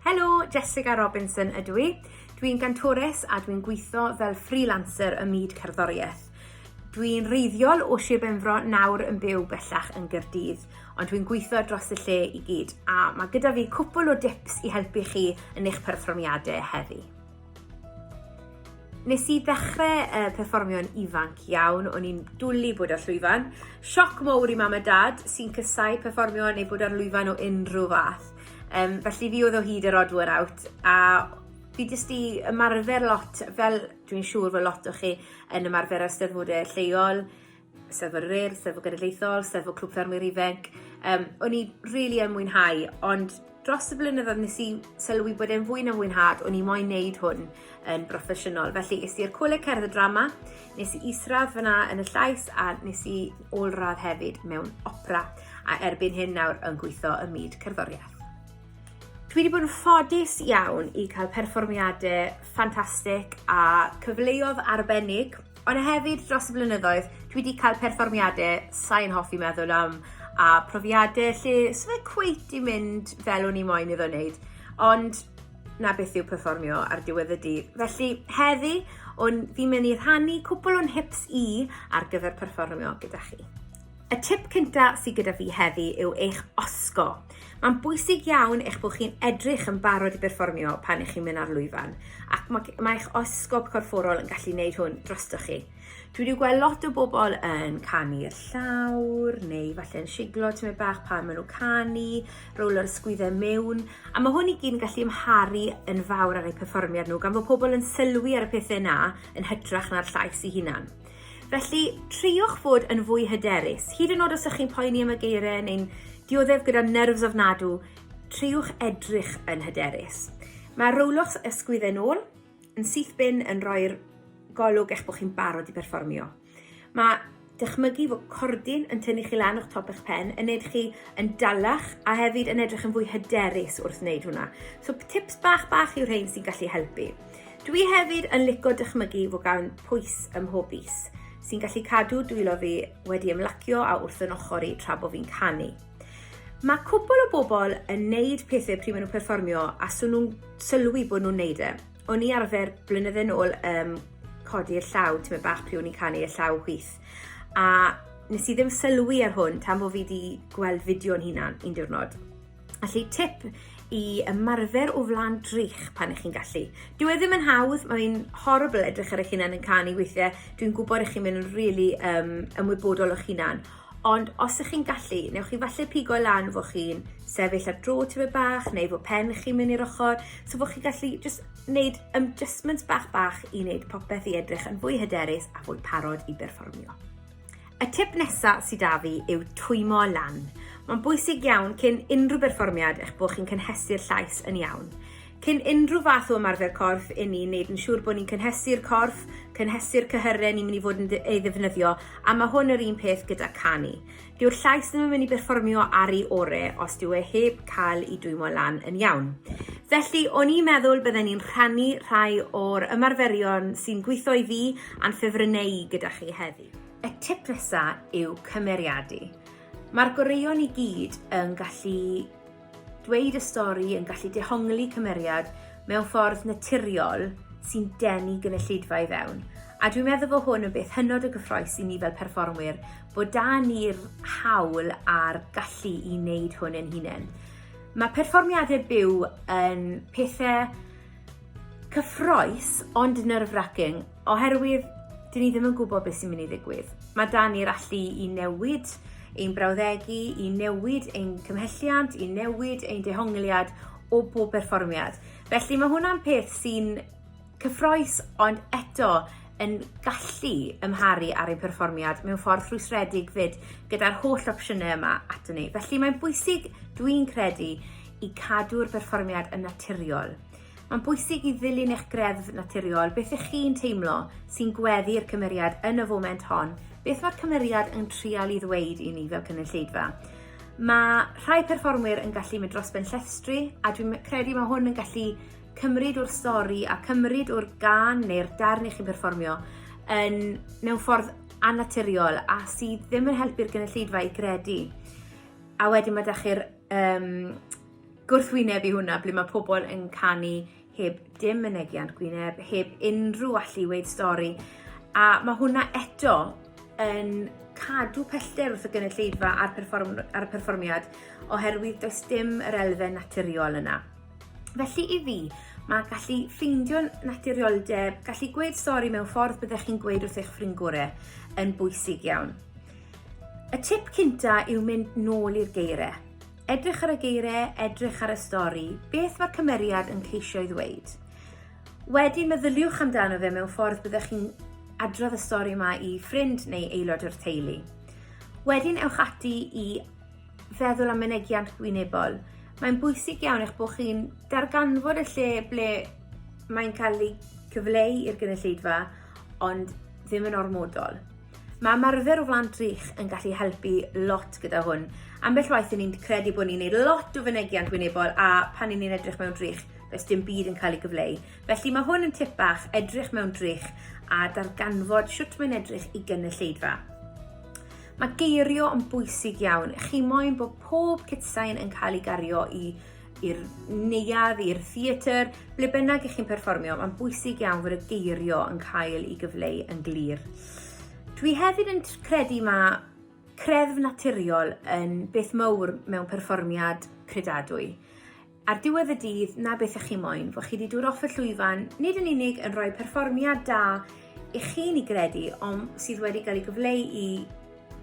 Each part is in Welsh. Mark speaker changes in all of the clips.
Speaker 1: Helo, Jessica Robinson ydw i. Dwi'n gantores a dwi'n gweithio fel freelancer ym myd cerddoriaeth. Dwi'n reiddiol o Sir Benfro nawr yn byw bellach yn Gyrdydd, ond dwi'n gweithio dros y lle i gyd, a mae gyda fi cwpl o dips i helpu chi yn eich perfformiadau heddi. Nes i ddechrau uh, perfformio'n ifanc iawn, o'n i'n dwlu bod ar llwyfan. Sioc mowr i mam a dad sy'n cysau perfformio neu bod ar lwyfan o unrhyw fath. Um, felly fi oedd o hyd yr odd one out a fi jyst i ymarfer lot fel dwi'n siŵr fod lot o chi yn ymarfer ar eisteddfodau lleol Steddfod yr Urdd, Steddfod Genedlaethol, Steddfod Clwb Ffermwyr Ifanc. Um, o'n i rili really yn mwynhau, ond dros y blynyddoedd nes i sylwi bod e'n fwy na fwynhad o'n i moyn neud hwn yn broffesiynol. Felly, ys i'r Coleg Cerdd y Drama, nes i isradd fyna yn y llais a nes i ôl-radd hefyd mewn opera a erbyn hyn nawr yn gweithio ym myd cerddoriaeth. Dwi wedi bod yn ffodus iawn i cael perfformiadau ffantastig a cyfleodd arbennig Ond hefyd dros y blynyddoedd, dwi wedi cael perfformiadau sain hoffi meddwl am a profiadau lle sy'n fe cweit i mynd fel o'n i moyn iddo wneud. Ond na beth yw perfformio ar diwedd y dydd. Felly heddi, fi'n mynd i rhannu cwpl o'n hips i ar gyfer perfformio gyda chi. Y tip cynta sydd gyda fi heddi yw eich osgo. Mae'n bwysig iawn eich bod chi'n edrych yn barod i berfformio pan ych chi'n mynd ar lwyfan, ac mae, mae eich osgob corfforol yn gallu gwneud hwn drostoch chi. Dwi wedi gweld lot o bobl yn canu'r llawr, neu falle yn siglo tymed bach pan maen nhw'n canu, rowlo'r sgwyddau mewn, a mae hwn i gyd yn gallu ymharu yn fawr ar eu perfformiad nhw, gan fod pobl yn sylwi ar y pethau yna yn hytrach na'r llais i hunan. Felly, triwch fod yn fwy hyderus. Hyd yn oed os ych chi'n poeni am y geiriau neu'n dioddef gyda nerfs ofnadw, triwch edrych yn hyderus. Mae rowloch ysgwydd yn ôl yn syth bin yn rhoi'r golwg eich bod chi'n barod i berfformio. Mae dychmygu fod cordyn yn tynnu chi lan o'ch top eich pen, yn neud chi yn dalach a hefyd yn edrych yn fwy hyderus wrth wneud hwnna. So tips bach bach yw rhain sy'n gallu helpu. Dwi hefyd yn lico dychmygu fo gawn pwys ym mhob fis, sy'n gallu cadw dwylo fi wedi ymlacio a wrth yn ochr i tra bo fi'n canu. Mae cwbl o bobl yn neud pethau pryd maen nhw'n perfformio a swn nhw'n sylwi bod nhw'n neud e. O'n i arfer blynydde yn ôl um, codi'r llaw, ti'n bach pryd o'n i'n canu y llaw hwyth. A nes i ddim sylwi ar hwn tan bod fi wedi gweld fideo o'n hunan un diwrnod. Felly tip i ymarfer o flan drych pan ych chi'n gallu. Dyw e ddim yn hawdd, mae'n horrible edrych ar eich hunan yn canu weithiau. Dwi'n gwybod eich chi'n mynd yn really um, ymwybodol o'ch hunan. Ond os ych chi'n gallu, newch chi falle pigo lan fo chi'n sefyll ar dro tyfu bach neu fo pen chi'n mynd i'r ochr, so fo chi'n gallu just wneud adjustments bach bach i wneud popeth i edrych yn fwy hyderus a fwy parod i berfformio. Y tip nesa sydd 'da fi yw twymo lan. Mae'n bwysig iawn cyn unrhyw berfformiad eich bod chi'n cynhesu'r llais yn iawn. Cyn unrhyw fath o ymarfer corff i ni wneud yn siŵr bod ni'n cynhesu'r corff, cynhesu'r cyhyren ni'n mynd i fod yn ei ddefnyddio, a mae hwn yr un peth gyda canu. Dyw'r llais ddim yn mynd i berfformio ar ei ore os dyw e heb cael ei dwymo lan yn iawn. Felly, o'n i'n meddwl bydden ni'n rhannu rhai o'r ymarferion sy'n gweithio i fi a'n ffefrynneu gyda chi heddi. Y tip nesa yw cymeriadu. Mae'r goreuon i gyd yn gallu dweud y stori, yn gallu dehongli cymeriad mewn ffordd naturiol sy'n denu gynulleidfa i fewn. A dwi'n meddwl bod hwn yn beth hynod o gyffroes i ni fel perfformwyr, bod da ni'r hawl a'r gallu i wneud hwn yn hunain. Mae perfformiadau byw yn pethau Cyffroes, ond nerve-wracking, oherwydd dyn ni ddim yn gwybod beth sy'n mynd i ddigwydd. Mae dan ni'r allu i newid ein brawddegu, i newid ein cymhelliant, i newid ein dehongliad o bob perfformiad. Felly mae hwnna'n peth sy'n cyffroes, ond eto yn gallu ymharu ar ein perfformiad mewn ffordd rhwystredig fyd gyda'r holl opsiynau yma ato ni. Felly mae'n bwysig, dwi'n credu, i cadw'r berfformiad yn naturiol. Mae'n bwysig i ddilyn eich greddf naturiol, beth ych chi'n teimlo sy'n gweddu'r cymeriad yn y foment hon, beth mae'r cymeriad yn trial i ddweud i ni fel cynulleidfa. Mae rhai perfformwyr yn gallu mynd dros ben llestri, a dwi'n credu mae hwn yn gallu cymryd o'r stori a cymryd o'r gan neu'r darn i chi'n perfformio yn, mewn ffordd annaturiol a sydd ddim yn helpu'r gynulleidfa i gredu. A wedyn mae da chi'r um, gwrthwyneb i hwnna, ble mae pobl yn canu heb dim mynegiant gwyneb, heb unrhyw allu weid stori. A mae hwnna eto yn cadw pellter wrth y gynulleidfa a'r, perform, ar y perfformiad oherwydd does dim yr elfen naturiol yna. Felly i fi, mae gallu ffeindio naturioldeb, gallu gweud stori mewn ffordd byddech chi'n gweud wrth eich ffrind gorau yn bwysig iawn. Y tip cynta yw mynd nôl i'r geiriau. Edrych ar y geiriau, edrych ar y stori, beth mae'r cymeriad yn ceisio ei ddweud. Wedyn meddyliwch amdano fe mewn ffordd byddech chi'n adrodd y stori yma i ffrind neu aelod o'r teulu. Wedyn ewch ati i feddwl am mynegiant gwynebol. Mae'n bwysig iawn eich bod chi'n darganfod y lle ble mae'n cael ei cyfleu i'r gynulleidfa, ond ddim yn ormodol. Mae ymarfer o flan drych yn gallu helpu lot gyda hwn. Ambell waith i ni'n credu bod ni'n gwneud lot o fynegiant wynebol a pan i ni'n edrych mewn drych, does dim byd yn cael ei gyfleu. Felly mae hwn yn tip bach, edrych mewn drych a darganfod sut mae'n edrych i gynulleidfa. Mae geirio yn bwysig iawn. Chi moyn bod pob cytsain yn cael ei gario i i'r neuadd, i'r theatr, ble bynnag i chi'n perfformio, mae'n bwysig iawn fod y geirio yn cael ei gyfleu yn glir. Dwi hefyd yn credu mae creddf naturiol yn beth mowr mewn perfformiad credadwy. Ar diwedd y dydd, na beth ych chi moyn, fod chi wedi dod off y llwyfan, nid yn unig yn rhoi perfformiad da i chi'n ei gredu, ond sydd wedi cael ei gyfleu i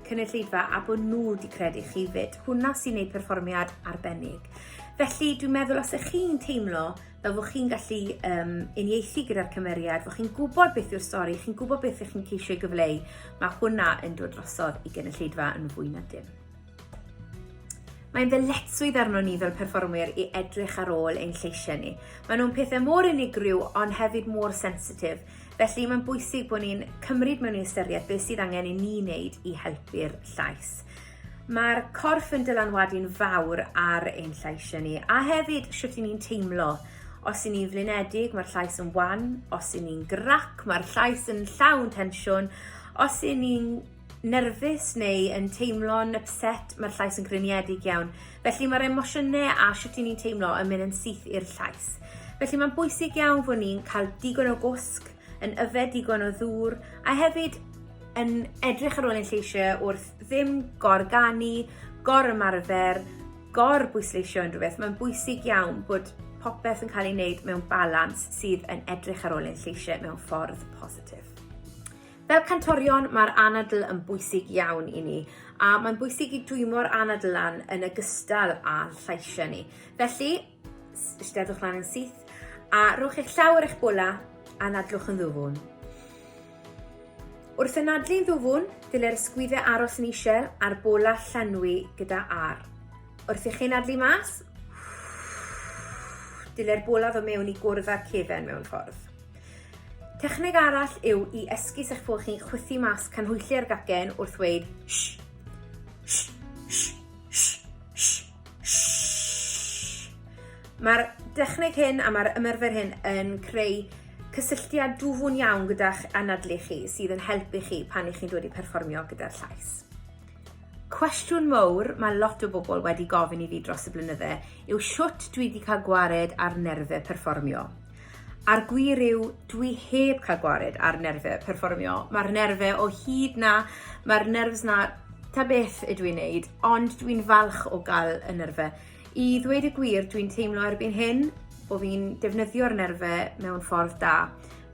Speaker 1: cynulleidfa a bod nhw wedi credu chi fyd. Hwna sy'n gwneud perfformiad arbennig. Felly dwi'n meddwl os ych chi'n teimlo fel bod chi'n gallu um, unieithu gyda'r cymeriad, bod chi'n gwybod beth yw'r stori, chi'n gwybod beth ych chi'n ceisio ei gyfleu, mae hwnna yn dod drosodd i gynulleidfa yn fwy na dim. Mae'n ddyletswydd arno ni fel perfformwyr i edrych ar ôl ein lleisiau ni. Maen nhw'n pethau mor unigryw ond hefyd mor sensitif. Felly mae'n bwysig bod ni'n cymryd mewn i ystyried beth sydd angen i ni wneud i helpu'r llais. Mae'r corff yn dylanwadu'n fawr ar ein llais ni a hefyd sut ni'n teimlo. Os y'n ni'n flinedig, mae'r llais yn wan. Os y'n ni'n grac, mae'r llais yn llawn tensiwn. Os y'n ni'n nerfus neu yn teimlo'n ypset, mae'r llais yn griniedig iawn. Felly mae'r emosiynau a sut i ni'n teimlo yn mynd yn syth i'r llais. Felly mae'n bwysig iawn fod ni'n cael digon o gwsg, yn yfed digon o ddŵr, a hefyd yn edrych ar ôl ein lleisiau wrth ddim gorganu, gor ymarfer, gor bwysleisio unrhyw beth. Mae'n bwysig iawn bod popeth yn cael ei wneud mewn balans sydd yn edrych ar ôl ein lleisiau mewn ffordd positif. Fel cantorion, mae'r anadl yn bwysig iawn i ni, a mae'n bwysig i dwymo'r anadl lan yn ogystal â llaisiau ni. Felly, steddwch lan yn syth, a rhowch eich llaw ar eich bola, a nadlwch yn ddwfwn. Wrth anadlu'n ddwfwn, dylai'r ysgwyddau aros yn eisiau a'r bola llenwi gyda ar. Wrth i chi nadlu mas, dylai'r bola fod mewn i gwrdd â'r cefen mewn ffordd. Techneg arall yw i esgus eich bod chi'n chwythu mas canhwylliau'r gacen wrth ddweud sh, sh, sh, sh, sh, sh. Mae'r dechneg hyn a mae'r ymerfer hyn yn creu cysylltiad dwfwn iawn gyda'ch anadlu chi sydd yn helpu chi pan i chi'n dod i perfformio gyda'r llais. Cwestiwn mowr mae lot o bobl wedi gofyn i fi dros y blynydde yw shwt dwi di cael gwared ar nerfe perfformio. A'r gwir yw, dwi heb cael gwared ar nerfe perfformio. Mae'r nerfe o hyd na, mae'r nerves na ta beth ydw i'n neud, ond dwi'n falch o gael y nerfe. I ddweud y gwir, dwi'n teimlo erbyn hyn bod fi'n defnyddio'r nerfe mewn ffordd da.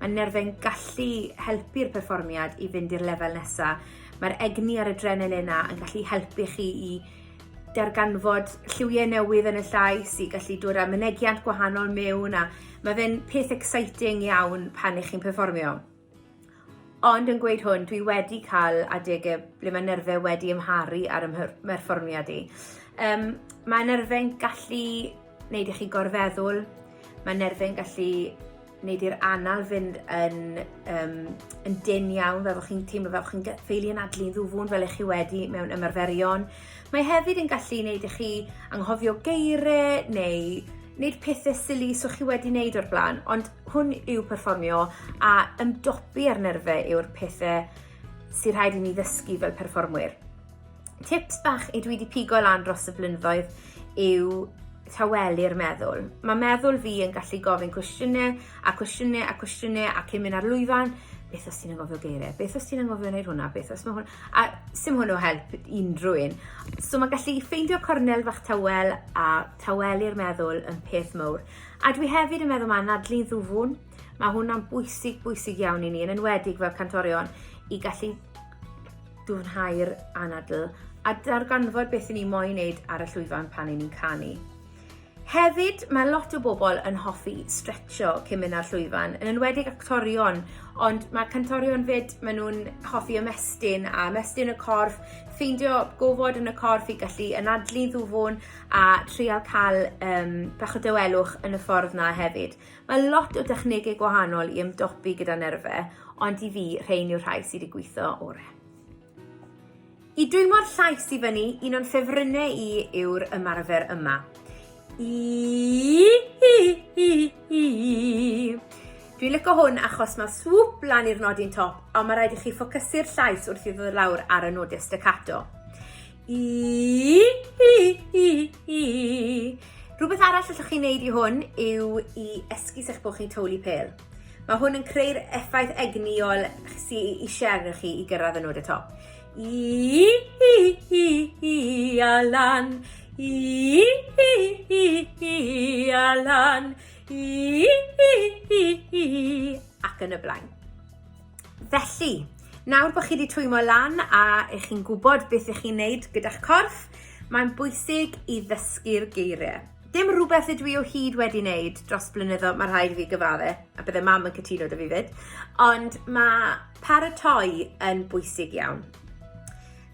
Speaker 1: Mae nerfe'n gallu helpu'r perfformiad i fynd i'r lefel nesaf. Mae'r egni a'r adrenalin yna yn gallu helpu chi i darganfod lliwiau newydd yn y llais, i gallu dod â mynegiant gwahanol mewn a mae fe'n peth exciting iawn pan ych chi'n perfformio. Ond yn gweud hwn, dwi wedi cael adegau ble mae nerfau wedi ymharu ar ym mherfformiad i. Um, mae nerfau'n gallu wneud i chi gorfeddwl, mae nerfau'n gallu Wnei di'r anal fynd yn, um, yn dyn iawn, fel bod chi'n teimlo fel bod chi'n ffeili anadlu'n ddwfwn fel eich chi wedi mewn ymarferion. Mae hefyd yn gallu gwneud i chi anghofio geiriau neu wneud pethau sili so chi wedi wneud o'r blaen, ond hwn yw perfformio a ymdopi ar nerfau yw'r pethau sy'n rhaid i ni ddysgu fel perfformwyr. tips bach i dwi wedi pigo lan dros y blynyddoedd yw tawelu'r meddwl. Mae meddwl fi yn gallu gofyn cwestiynau a cwestiynau a cwestiynau a cyn mynd ar lwyfan, beth os ti'n angofio geiriau, beth os ti'n angofio wneud hwnna, beth os mae hwn, a sy'n hwnnw help unrhyw un. So mae gallu ffeindio cornel fach tawel a tawelu'r meddwl yn peth mowr. A dwi hefyd yn meddwl mae anadlu'n ddwfwn, mae hwnna'n bwysig, bwysig iawn i ni, yn enwedig fel cantorion, i gallu dyfnhau'r anadl a darganfod beth ni'n moyn wneud ar y llwyfan pan ni'n canu. Hefyd, mae lot o bobl yn hoffi stretcho cyn mynd ar llwyfan, yn enwedig actorion, ond mae cantorion fyd, maen nhw'n hoffi ymestyn a ymestyn y corff, ffeindio gofod yn y corff i gallu anadlu ddwfwn a trial cael um, bach o dywelwch yn y ffordd na hefyd. Mae lot o dechnegau gwahanol i ymdopi gyda nerfau, ond i fi, rhein yw'r rhai sydd wedi gweithio orau. I dwymo'r llais i fyny, un o'n ffefrynnau i yw'r ymarfer yma. I, i, i, i. Dwi'n lyco hwn achos mae swp lan i'r nodyn top, ond mae rhaid i chi ffocysu'r llais wrth i ddod lawr ar y nodau staccato. I, i, i, i. Rhywbeth arall allwch chi wneud i hwn yw i esgus eich bod chi'n tywlu pel. Mae hwn yn creu'r effaith egnïol sy'n eisiau arnoch chi i gyrraedd y nod y top. I, i, i, i, a lan. I, i, i, i, a lan. I, i, i, i, ac yn y blaen. Felly, nawr bod chi wedi twymo lan a ych chi'n gwybod beth ych chi'n neud gyda'ch corff, mae'n bwysig i ddysgu'r geiriau. Dim rhywbeth ydw i o hyd wedi wneud dros blynyddo, mae rhaid i fi gyfadde, a bydde mam yn cytuno da fi fyd, ond mae paratoi yn bwysig iawn.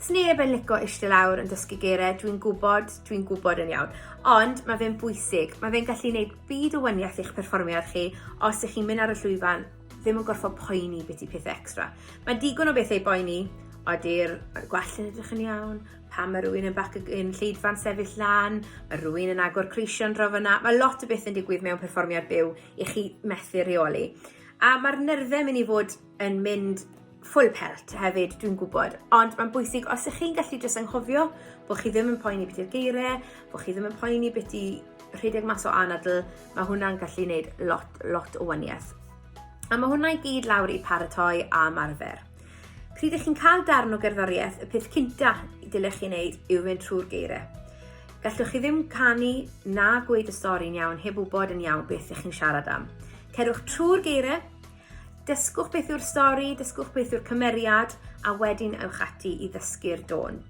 Speaker 1: Sneb yn lico eistedd lawr yn dysgu geiriau, dwi'n gwybod, dwi'n gwybod yn iawn. Ond mae fe'n bwysig, mae fe'n gallu gwneud byd o waniaeth i'ch perfformiad chi os ych chi'n mynd ar y llwyfan ddim yn gorfod poeni beth i pethau extra. Mae digon o bethau boeni, ody'r gwell yn edrych yn iawn, pa mae rhywun yn bac yn lleidfa'n sefyll lan, mae rhywun yn agor creision draw fyna, mae lot o beth yn digwydd mewn perfformiad byw i chi methu reoli. A mae'r nyrddau mynd i fod yn mynd full pelt hefyd dwi'n gwybod, ond mae'n bwysig os ych chi'n gallu jyst anghofio bod chi ddim yn poeni beth yw'r geiriau, bod chi ddim yn poeni beth i rhedeg mas o anadl, mae hwnna'n gallu gwneud lot, lot o waniaeth. A mae hwnna i gyd lawr i paratoi a marfer. Pryd ych chi'n cael darn o gerddoriaeth, y peth cynta dylech chi wneud yw fynd trwy'r geiriau. Gallwch chi ddim canu na gweud y stori'n iawn heb wybod yn iawn beth ych chi'n siarad am. Cerwch trwy'r geiriau, Dysgwch beth yw'r stori, dysgwch beth yw'r cymeriad, a wedyn ewch ati i ddysgu'r dôn.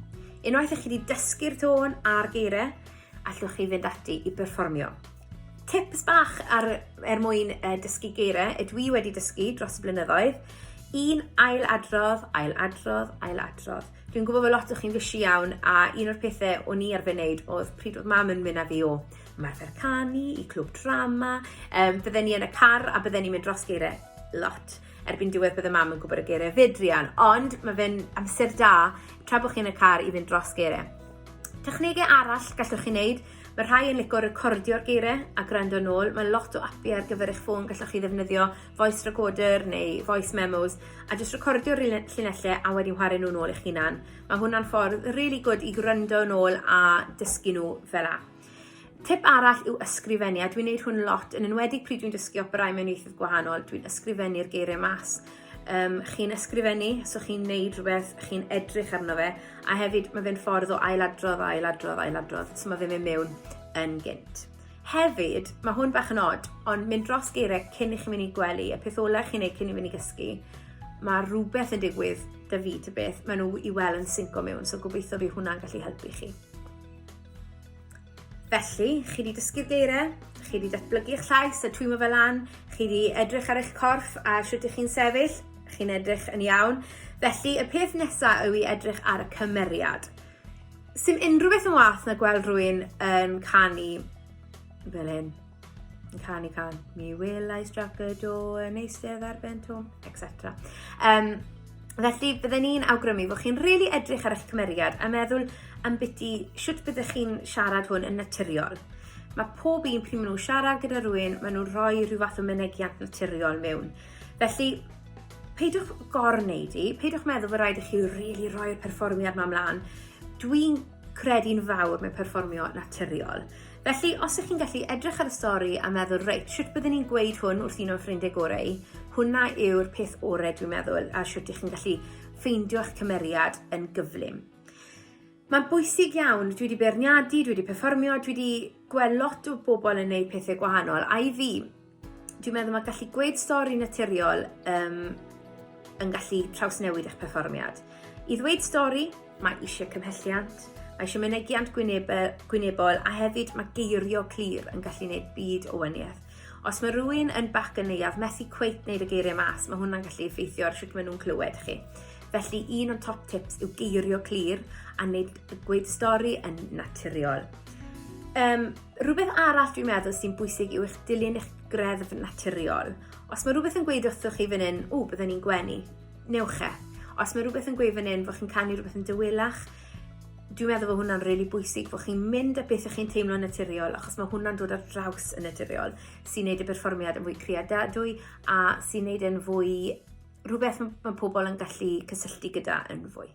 Speaker 1: Unwaith ych chi wedi dysgu'r dôn a'r geiriau, allwch chi fynd ati i berfformio. Tips bach ar, er mwyn uh, dysgu geiriau, y dwi wedi dysgu dros y blynyddoedd, un ail adrodd, ail adrodd, ail adrodd. Dwi'n gwybod bod lot o chi'n fysi iawn a un o'r pethau o'n i arfer wneud oedd pryd oedd mam yn mynd â fi o ymarfer canu, i clwb drama, um, bydden ni yn y car a bydden ni'n mynd dros geiriau lot. Erbyn diwedd bydde mam yn gwybod y geiriau fedrian, ond mae fe'n amser da tra bod chi yn y car i fynd dros geiriau. Technegau arall gallwch chi wneud, mae rhai yn licio recordio'r geiriau a gwrando yn ôl. Mae lot o api ar gyfer eich ffôn gallwch chi ddefnyddio voice recorder neu voice memos a jyst recordio'r llinellau a wedi chwarae nhw'n ôl eich hunan. Mae hwnna'n ffordd really good i gwrando yn ôl a dysgu nhw fel a. Tip arall yw ysgrifennu, a dwi'n neud hwn lot, yn enwedig pryd dwi'n dysgu operau mewn ieithoedd gwahanol, dwi'n ysgrifennu'r geiriau mas. Um, chi'n ysgrifennu, so chi'n neud rhywbeth, chi'n edrych arno fe, a hefyd mae fe'n ffordd o ailadrodd, ailadrodd, ailadrodd, so mae fe'n mynd mewn yn gynt. Hefyd, mae hwn bach yn od, ond mynd dros geiriau cyn i chi mynd i gwely, y peth ola chi'n neud cyn i fynd i gysgu, mae rhywbeth yn digwydd da fi ta beth, maen nhw i weld yn synco mewn, so gobeithio fi hwnna'n gallu helpu chi. Felly, chi wedi dysgu'r geiriau, chi wedi datblygu eich llais a twymo fel an, chi wedi edrych ar eich corff a sut ych chi'n sefyll, chi'n edrych yn iawn. Felly, y peth nesaf yw i edrych ar y cymeriad. Sym unrhyw beth yn wath na gweld rwy'n yn canu fel hyn. yn canu can, mi will I struck a door yn eistedd ar ben tom, etc. Um, felly, byddwn ni'n awgrymu bod chi'n rili really edrych ar eich cymeriad a meddwl am biti sut byddwch chi'n siarad hwn yn naturiol. Mae pob un pryd maen nhw'n siarad gyda rhywun, maen nhw'n rhoi rhyw fath o mynegiant naturiol mewn. Felly, peidiwch gorwneud i, peidiwch meddwl bod rhaid i chi rili really roi'r perfformiad ma'n mlaen. Dwi'n credu'n fawr mewn perfformio naturiol. Felly, os ych chi'n gallu edrych ar y stori a meddwl, reit, sut byddwn ni'n gweud hwn wrth un o'n ffrindiau gorau, hwnna yw'r peth orau dwi'n meddwl, a sut ych chi'n gallu ffeindio eich cymeriad yn gyflym. Mae'n bwysig iawn, dwi wedi beirniadu, dwi wedi perfformio, dwi wedi gweld lot o bobl yn gwneud pethau gwahanol, a i fi, Dwi'n meddwl mae gallu gweud stori naturiol um, yn gallu trawsnewid eich perfformiad. I ddweud stori, mae eisiau cymhelliant, mae eisiau mynegiant gwynebol a hefyd mae geirio clir yn gallu gwneud byd o wyniaeth. Os mae rhywun yn bac yn neuaf methu cweit wneud y geiriau mas, mae hwnna'n gallu effeithio ar sut maen nhw'n clywed chi. Felly un o'n top tips yw geirio clir a wneud y gweud stori yn naturiol. Um, Rhywbeth arall dwi'n meddwl sy'n bwysig yw eich dilyn eich greddf naturiol. Os mae rhywbeth yn gweud wrthoch chi fan hyn, ww, byddwn ni'n gwenu, newch e. Os mae rhywbeth yn gweud fan hyn fod chi'n canu rhywbeth yn dywelach, dwi'n meddwl bod hwnna'n rili really bwysig fod chi'n mynd a beth ych chi'n teimlo'n naturiol achos mae hwnna'n dod ar draws yn naturiol sy'n neud y perfformiad yn fwy creadadwy a sy'n neud e'n fwy rhywbeth mae pobl yn gallu cysylltu gyda yn fwy.